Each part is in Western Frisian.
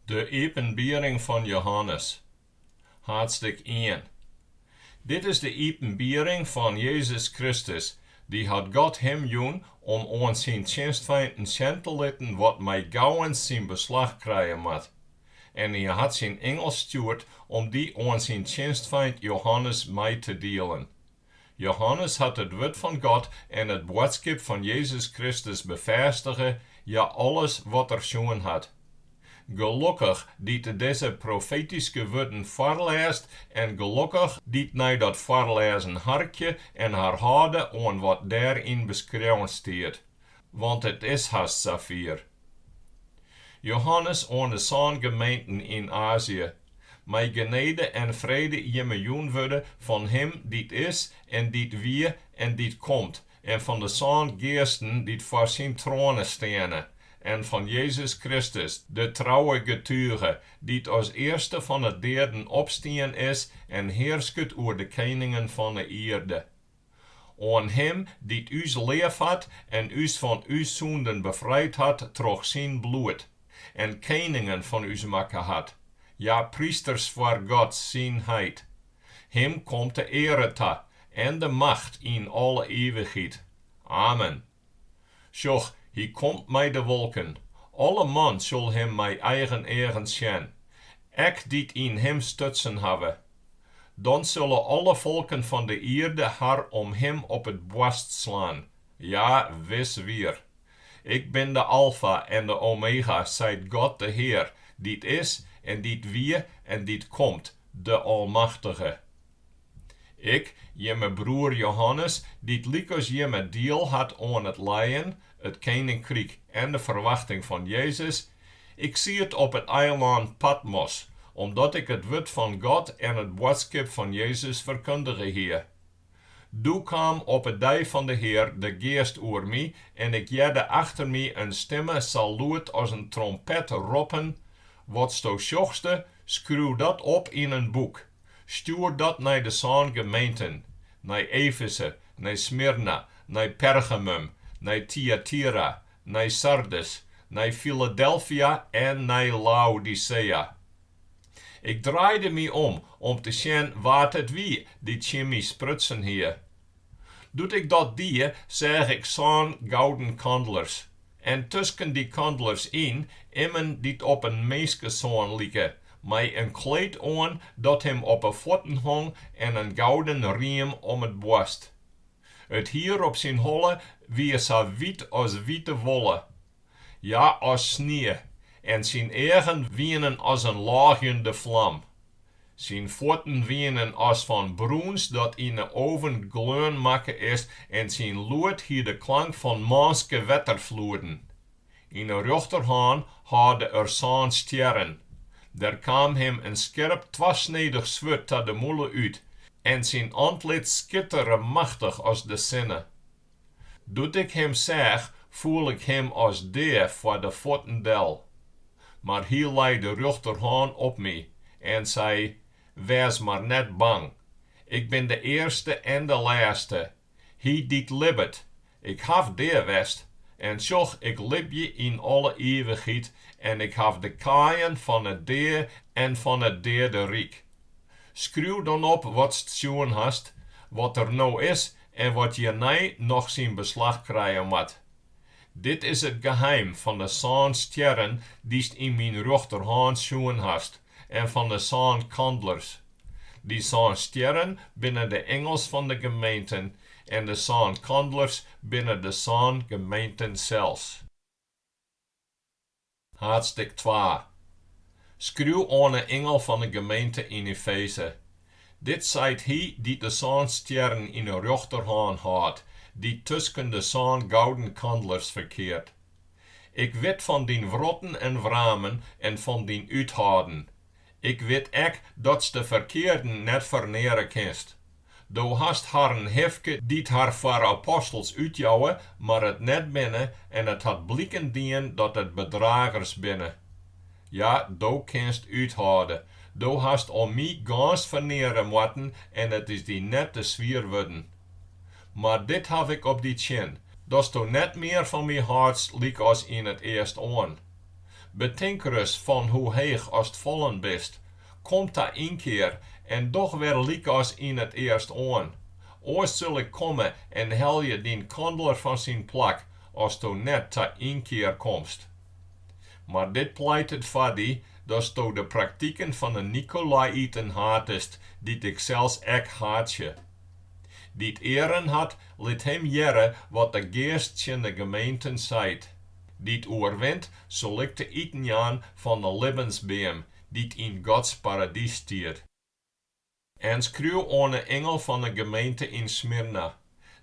De iepenbiering fan Jehannes, haadstik ien. Dit is de iepenbiering fan Jezus Kristus, dy hat God him jûn om oan syn tsjinstfeinten sjen te litten wat mei gauwens syn beslach krije moat. En hy hat syn ingel stjoerd om dy oan syn tsjinstfeint Jehannes mei te dielen. Jehannes hat it wurd fan God en it boadskip fan Jezus Kristus befêstige, ja, alles wat er sjoen hat. Gelokkich dy't dizze profetyske wurden foarlêst en gelokkich dy't nei dat foarlêzen harkje en har hâlde oan wat dêryn beskreaun stiet, Want it is hast safier. Johannes oan de sân gemeenten yn Azië, mei genede en frede jimme jûn wurde fan Him dy't is en dy't wie en dy't komt, en fan de sân geasten dy't foar Syn troane steane, en fan Jezus Kristus, de trouwe getuge, dy't as earste fan 'e deaden opstien is en hearsket oer de keningen fan 'e ierde. Oan Him dy't ús leafhat en ús fan ús sûnden befrijd hat troch Syn bloed, en keningen fan ús makke hat, ja, prysters foar God Syn heit. Him komt de eare ta en de macht yn alle ivichheid. Amen. Sjoch, hy komt mei de wolken, alle man sil him mei eigen eagen sjen, ek dy't yn him stutsen hawwe. Dan sille alle folken fan de ierde har om him op it boarst slaan, ja, wis wier. Ik bin de Alfa en de Omega, seit God de Hear, dy't is en dy't wie en dy't komt, de Almachtige. Ik, jimme broer Johannes, dy't lykas jimme diel hat oan it lijen, it keninkryk en de ferwachting fan Jezus. Ik siet op it eilân Patmos, omdat ik it wurd fan God en it boadskip fan Jezus ferkundige hie. Doe kaam op 'e dei fan de Hear de Geast oer my en ik hearde achter my in stimme sa lûd as in trompet roppen, Watsto sjochste, skriuw dat op yn in boek. Stjoer dat nei de sân gemeenten, nei Efese, nei Smyrna, nei Pergamum, nei Tyatira, nei Sardes, nei Filadelfia en nei Laodisea. Ik draaide my om om te sjen wa't it wie dy't tsjin my sprutsen hie. Doe't ik dat die, seach ik sân gouden kandlers, en tusken dy kandlers yn, immen dy't op in minskesoan like, mei in kleed oan dat him op 'e fuotten hong en in gouden riem om it boarst. It hier op syn holle wie sa wyt as wite wolle, Ja, as snie, en syn eagen wienen as in lôgjende flam. Syn fuotten wienen as fan brûns dat yn 'e oven gleon makke is en syn lûd hie de klank fan mânske wetterfloeden. Yn 'e rjochterhân hâlde er sân stjerren. Der kaam him in skerp twasnedich swurd ta de mûle út en syn antlit skittere machtich as de sinne. Doe't ik him seach, foel ik him as dea foar de fuotten del. Mar hy lei de rjochterhân op my en sei, Wês mar net bang. Ik bin de earste en de lêste, hy dy't libbet. Ik haw dea west, en sjoch, ik libje yn alle ivichheid en ik haw de kaaien fan 'e dea en fan it deaderyk. Skriuw dan op watst sjoen hast, wat der no is en wat hjirnei noch syn beslach krije moat. Dit is it geheim fan de sân stjerren dy'st yn myn rjochterhân sjoen hast en fan de sân kandlers. Dy sân stjerren binne de ingels fan de gemeenten en de sân kandlers binne de sân gemeenten sels. Haadsttik twa. Skriuw oan 'e ingel fan 'e gemeente yn Efeze. Dit seit hy dy't de sân stjerren yn 'e rjochterhân hâldt, dy't tusken de sân gouden kandlers ferkeart. Ik wit fan dyn wrotten en wramen en fan dyn úthâlden. Ik wit ek datst de ferkearden net ferneare kinst. Do hast harren hifke dy't har foar apostels útjouwe, mar it net binne, en it hat bliken dien dat it bedragers binne. Ja, do kinst úthâlde. Do hast om my gâns ferneare moatten en it is dy net te swier wurden. Mar dit haw ik op dy tsjin, datsto net mear fan my hâldst lykas yn it earstoan. Betink ris fan hoe heech ast fallen bist, Kom ta ynkear en doch wer lykas yn it earstoan, oars sil ik komme en helje dyn kandler fan syn plak, asto net ta ynkear komst. Mar dit pleitet foar dy, datsto de praktiken fan 'e Nikolaïten hatest, dy't ik sels ek haatsje. Dy't earen hat, lit him hearre wat de Geast tsjin 'e gemeenten seit. Dy't oerwint, sil ik te iten jaan fan 'e libbensbeam, dy't yn Gods paradys stiet. En skriuw oan 'e ingel fan 'e gemeente yn Smyrna,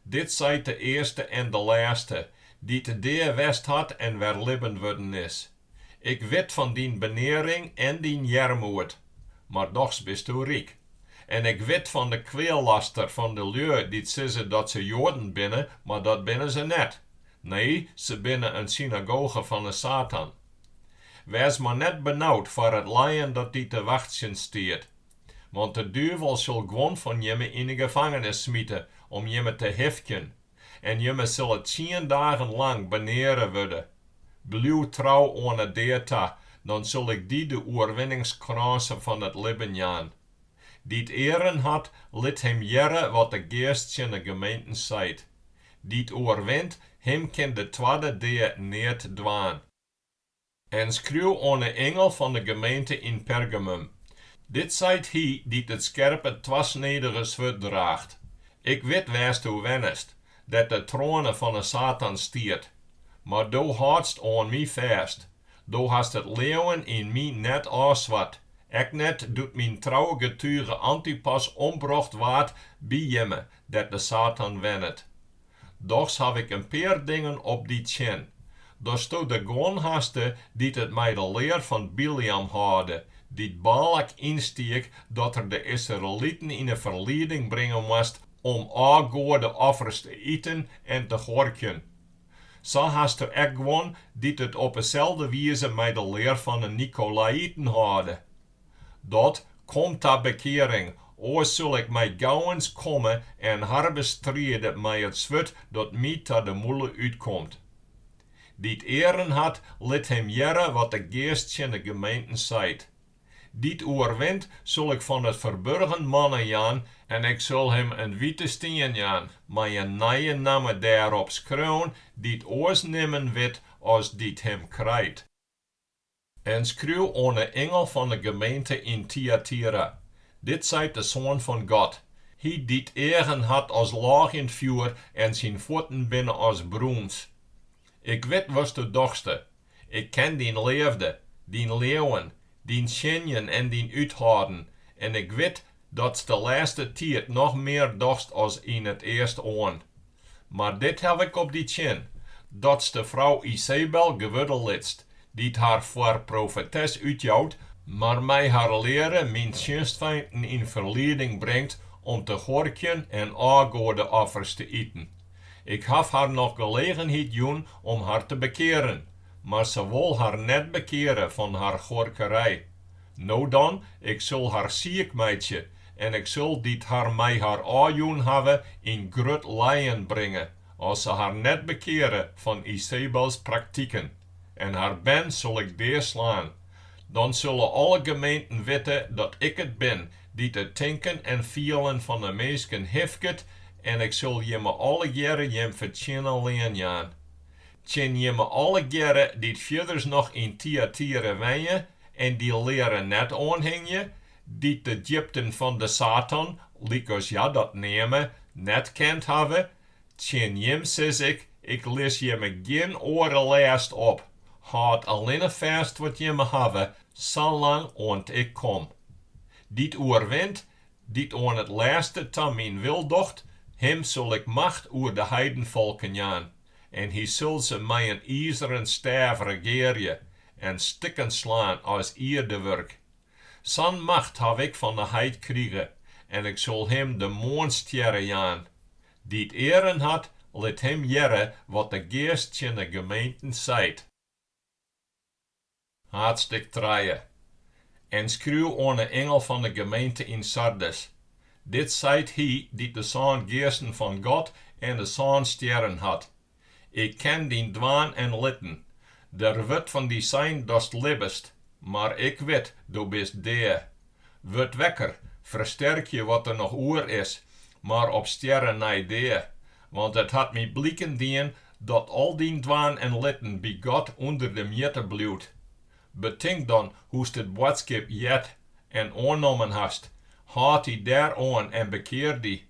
Dit seit de earste en de lêste, dy't dea west hat en wer libben wurden is, Ik wit fan dyn benearing en dyn earmoed, mar dochs bisto ryk. En ik wit fan de kweallaster fan de lju dy't sizze dat se Joaden binne, mar dat binne se net, nee, se binne in synagoge fan 'e Satan. Wês mar net benaud foar it lijen dat dy te wachtsjen stiet. Want de duvel sil guon fan jimme yn 'e gefangenis smite om jimme te hifkjen, en jimme sille tsien dagen lang beneare wurde. Bliuw trou oan 'e dea ta, dan sil ik dy de oerwinningskrânse fan it libben jaan. Dy't earen hat, lit him hearre wat de Geast tsjin 'e gemeenten seit. Dy't oerwint, him kin de twadde dea neat dwaan. En skriuw oan 'e ingel fan 'e gemeente yn Pergamum, Dit seit hy dy't it skerpe twasnedige swurd draacht, Ik wit wêr'tsto wennest, dêr't de troane fan 'e Satan stiet, mar do hâldst oan my fêst, do hast it leauwen yn my net ôfsward, ek net doe't myn trouwe getuge Antipas ombrocht waard by jimme, dêr't de Satan wennet. Dochs haw ik in pear dingen op dy tsjin. Datsto dêr guon haste dy't it mei de lear fan Bileam hâlde, dy't Balak ynstiek dat er de Israeliten yn 'e ferlieding bringe moast om ôfgoadeoffers te iten en te huorkjen. Sa hasto ek guon dy't it op 'e selde wize mei de lear fan 'e Nikolaïten hâlde. Dat kom ta bekearing, oars sil ik mei gauwens komme en har bestride mei it swurd dat my ta de mûle útkomt. Dy't earen hat, lit him hearre wat de Geast tsjin de gemeenten seit. Dy't oerwint, sil ik fan it ferburgen manna jaan, en ik sil him in wite stien jaan, mei in nije namme dêrop skreaun, dy't oars nimmen wit as dy't him krijt. En skriuw oan 'e ingel fan 'e gemeente yn Tyatira, Dit seit de Soan fan God, Hy dy't eagen hat as lôgjend fjoer en syn fuotten binne as brûns. Ik wit watsto dochste. Ik ken dyn leafde, dyn leauwen, dyn tsjinjen en dyn úthâlden, en ik wit datst de lêste tiid noch mear dochst as yn it earst oan. Mar dit haw ik op dy tsjin, datst de frou Izebel gewurde litst, dy't har foar profetes útjout, mar mei har leare myn tsjinstfeinten yn ferlieding bringt om te huorkjen en ôfgoadeoffers te iten. Ik haw har noch gelegenheid jûn om har te bekearen, mar se wol har net bekeare fan har huorkerij. No dan, Ik sil har siik meitsje, en Ik sil dy't har mei har ôfjûn hawwe yn grut lijen bringe, as se har net bekeare fan Izebels praktiken, en har bern sil Ik dea slaan. Dan sille alle gemeenten witte dat Ik it bin dy't it tinken en fielen fan de minsken hifket, en Ik sil jimme allegearre jim fertsjinne lean jaan. tsjin jimme allegearre dy't fierders noch yn Tyatira wenje en dy leare net oanhingje, dy't de djipten fan de Satan, lykas hja dat neame, net kend hawwe, tsjin jim sis ik, ik lis jimme gjin oare lêst op, hâld allinne fêst wat jimme hawwe, salang oant ik kom. Dy't oerwint, dy't oan it lêste ta myn wil docht, him sil ik macht oer de heidenfolken jaan. En hy sil se mei in izeren stêf regearje en stikken slaan as ierdewurk. Sa'n macht haw ik fan 'e heit krige, en ik sil him de moarnstjerre jaan. Dy't earen hat, lit him hearre wat de Geast tsjin 'e gemeenten seit. Haadstik trije. En skriuw oan 'e ingel fan 'e gemeente yn Sardes, Dit seit hy dy't de sân geasten fan God en de sân stjerren hat, Ik ken dyn dwaan en litten, der wurdt fan dy sein datst libbest, mar ik wit, do bist dea. Wurd wekker, fersterkje wat der noch oer is, mar op stjerren nei dea, Want it hat my bliken dien dat al dyn dwaan en litten by God ûnder de mjitte bliuwt. Betink dan hoe'tst it boadskip heard en oannommen hast, hâld dy dêr oan en bekear dy.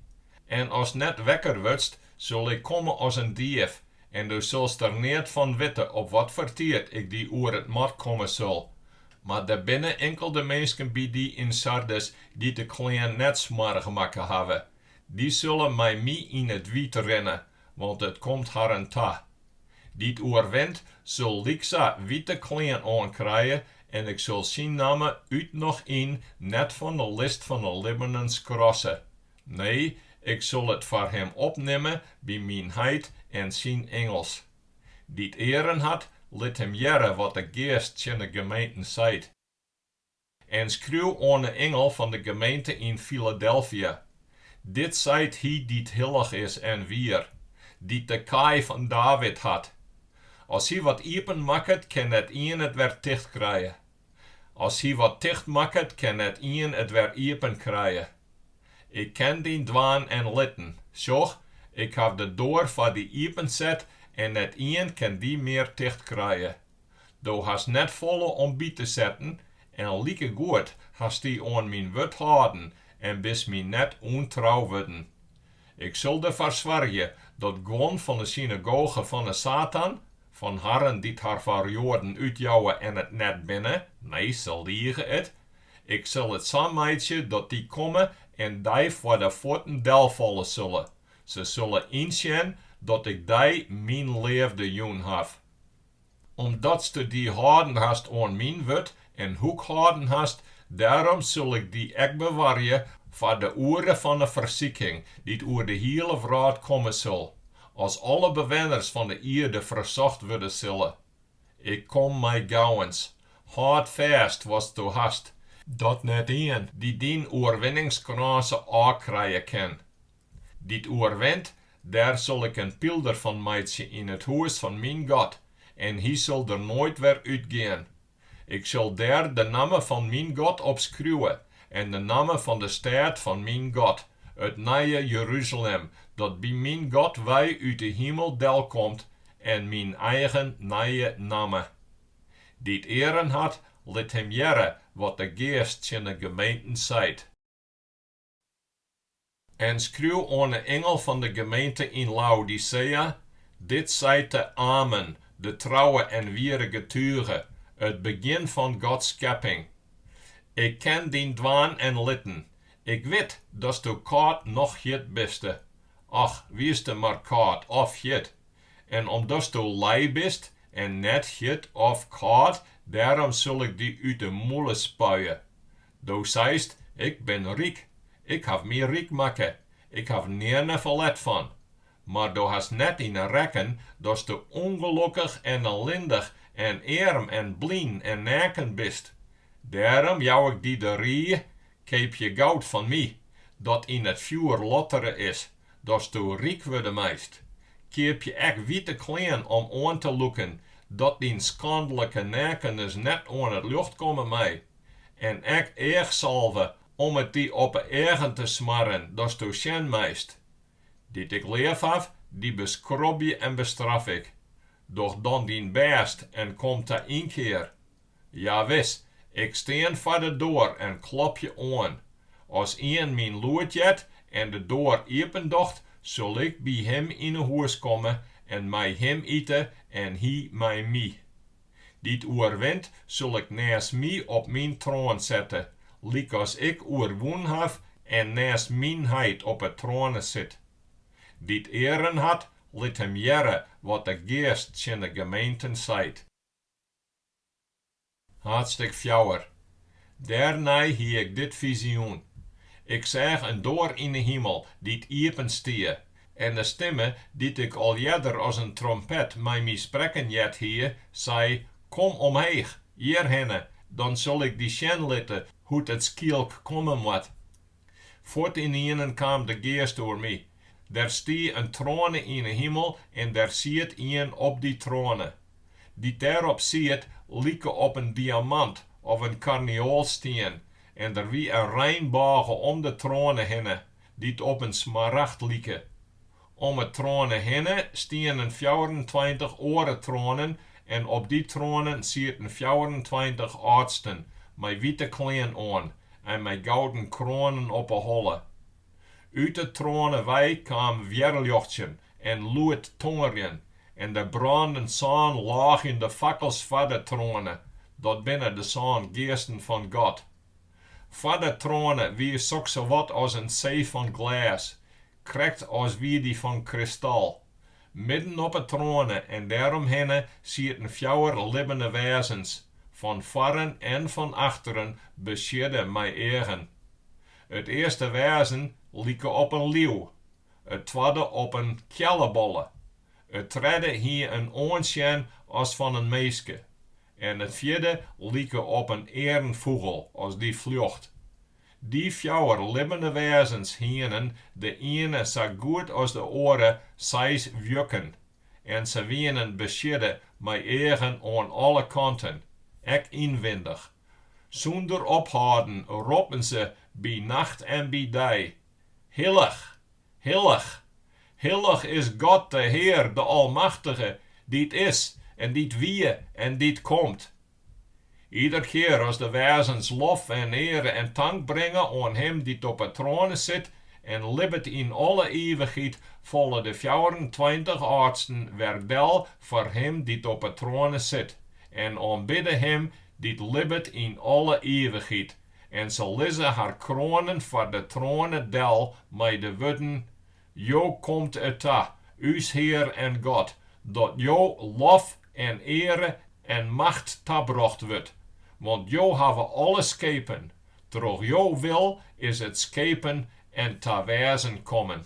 En ast net wekker wurdst, sil ik komme as in dief, en do silst der neat fan witte op wat foar tiid ik dy oer it mat komme sil. Mar der binne inkelde minsken by dy yn Sardes dy't de klean net smoarch makke hawwe, Dy sille mei my yn it wyt rinne, want it komt harren ta. Dy't oerwint, sil lyksa wite klean oankrije, en ik sil syn namme út noch yn net fan 'e list fan 'e libbenen skrasse. Nee, ik sil it foar him opnimme by myn heit en syn ingels. Dy't earen hat, lit him hearre wat de Geast tsjin 'e gemeenten seit. En skriuw oan 'e ingel fan de gemeente yn Filadelfia, Dit seit hy dy't hillich is en wier, dy't de kaai fan David hat. As hy wat iepen makket, kin net ien it wer ticht krije. As hy wat ticht makket, kin net ien it wer iepen krije. Ik ken dyn dwaan en litten. Sjoch, ik haw de doar foar dy iepenset en net ien kin dy mear ticht krije. Do hast net folle om by te setten en likegoed hast dy oan myn wurd hâlden en bist my net ûntrou wurden. Ik sil derfoar soargje dat guon fan 'e synagoge fan 'e Satan, fan harren dy't har foar Joaden útjouwe en it net binne, nee, se lige it, ik sil it sa meitsje dat dy komme en dy foar de fuotten delfalle sille, se sille ynsjen dat ik dy myn leafde jûn haw. Omdatsto dy hâlden hast oan myn wurd en hoek hâlden hast, dêrom sil ik dy ek bewarje foar de oere fan 'e fersiking, dy't oer de hiele wrâld komme sil, as alle bewenners fan 'e ierde fersocht wurde sille. Ik kom mei gauwens. Hâld fêst watsto hast, dat net ien dy dyn oerwinningskrânse ôfkrije kin. dy't oerwint, dêr sil ik in pylder fan meitsje yn it hûs fan myn God, en hy sil der noait wer útgean. Ik sil dêr de namme fan myn God op skriuwe en de namme fan de stêd fan myn God, it nije Jeruzalem, dat by myn God wei út de himel delkomt, en myn eigen nije namme. Dy't earen hat, lit him hearre wat de Geast tsjin de gemeenten seit. En skriuw oan 'e ingel fan de gemeente yn Laodicea, Dit seit de Amen, de trouwe en wiere getuge, it begjin fan Gods skepping, Ik ken dyn dwaan en litten, ik wit datsto kâld noch hjit biste, och, wieste mar kâld of hjit, en omdatsto lij bist en net hjit of kâld, dêrom sil ik dy út 'e mûle spuie, Do seist, Ik bin ryk, ik haw my ryk makke, ik haw nearne ferlet fan. Mar do hast net yn 'e rekken datsto ûngelokkich en ellindich en earm en blyn en neaken bist. Dêrom jou ik dy de rie, Keapje goud fan my, dat yn it fjoer lottere is, datsto ryk wurde meist. Keapje ek wite klean om oan te lûken, dat dyn skandlike neakenens net oan it ljocht komme mei. En ek eachsalve om it dy op 'e eagen te smarren, datsto sjen meist. Dy't ik leaf haw, dy beskrobje en bestraf ik. Doch dan dyn bêst en kom ta ynkear. Ja wis, ik stean foar de doar en klopje oan. As ien myn lûd heart en de doar iependocht, sil ik by him yn 'e hûs komme en mei him ite en hy mei my. Dy't oerwint, sil ik nêst my op myn troan sette, lykas ik oerwûn haw en nêst myn heit op 'e troane sit. Dy't earen hat, lit him hearre wat de Geast tsjin de gemeenten seit. Haadstjik fjouwer, Dêrnei hie ik dit fizioen. Ik seach in doar yn 'e himel dy't iepen stie, en de stimme dy't ik al earder as in trompet mei my sprekken heard hie, sei, Kom omheech, hjirhinne, dan sil ik dy sjen litte hoe't it skielk komme moat. Fuort ynienen kaam de Geast oer my. Der stie in troane yn 'e himel en der siet ien op dy troane. Dy't dêrop siet, like op in diamant of in karneoalstien, en der wie in reinbôge om de troane hinne, dy't op in smaragd like. Om 'e troane hinne stienen fjouwerentweintich oare troanen en op dy troanen sieten fjouwerentweintich âldsten mei wite klean oan en mei gouden kroanen op 'e holle. Ut 'e troane wei kaam wjerljochtsjen en lûd tongerjen en der brânden sân lôgjende fakkels foar de troane, dat binne de sân geasten fan God. Foar de troane wie soksawat as in see fan glês, krekt as wie dy fan kristal. Midden op 'e troane en dêromhinne sieten fjouwer libbene wêzens, fan foaren en fan achteren besiedde mei eagen. It earste wêzen like op in liuw, it twadde op in keallebolle, it tredde hie in oansjen as fan in minske En it fjirde like op in earnfûgel as dy fljocht. Dy fjouwer libbene wêzens hienen, de iene sa goed as de oare, seis wjukken, en se wienen besiedde mei eagen oan alle kanten, ek ynwindich. Sûnder ophâlden roppen se by nacht en by dei, Hillich! Hillich, hillich is God de Hear, de Almachtige, dy't is en dy't wie en dy't komt. Ider kear as de wêzens lof en eare en tank bringe oan Him dy't op 'e troane sit en libbet yn alle ivichheid, falle de fjouwerentweintich âldsten wer del foar Him dy't op 'e troane sit en oanbidde Him dy't libbet yn alle ivichheid. En se lizze har kroanen foar de troane del mei de wurden, Jo komt it ta, ús Hear en God, dat Jo lof en eare en macht tabrocht wurdt, want Jo hawwe alles skepen, troch Jo wil is it skepen en ta wêzen kommen.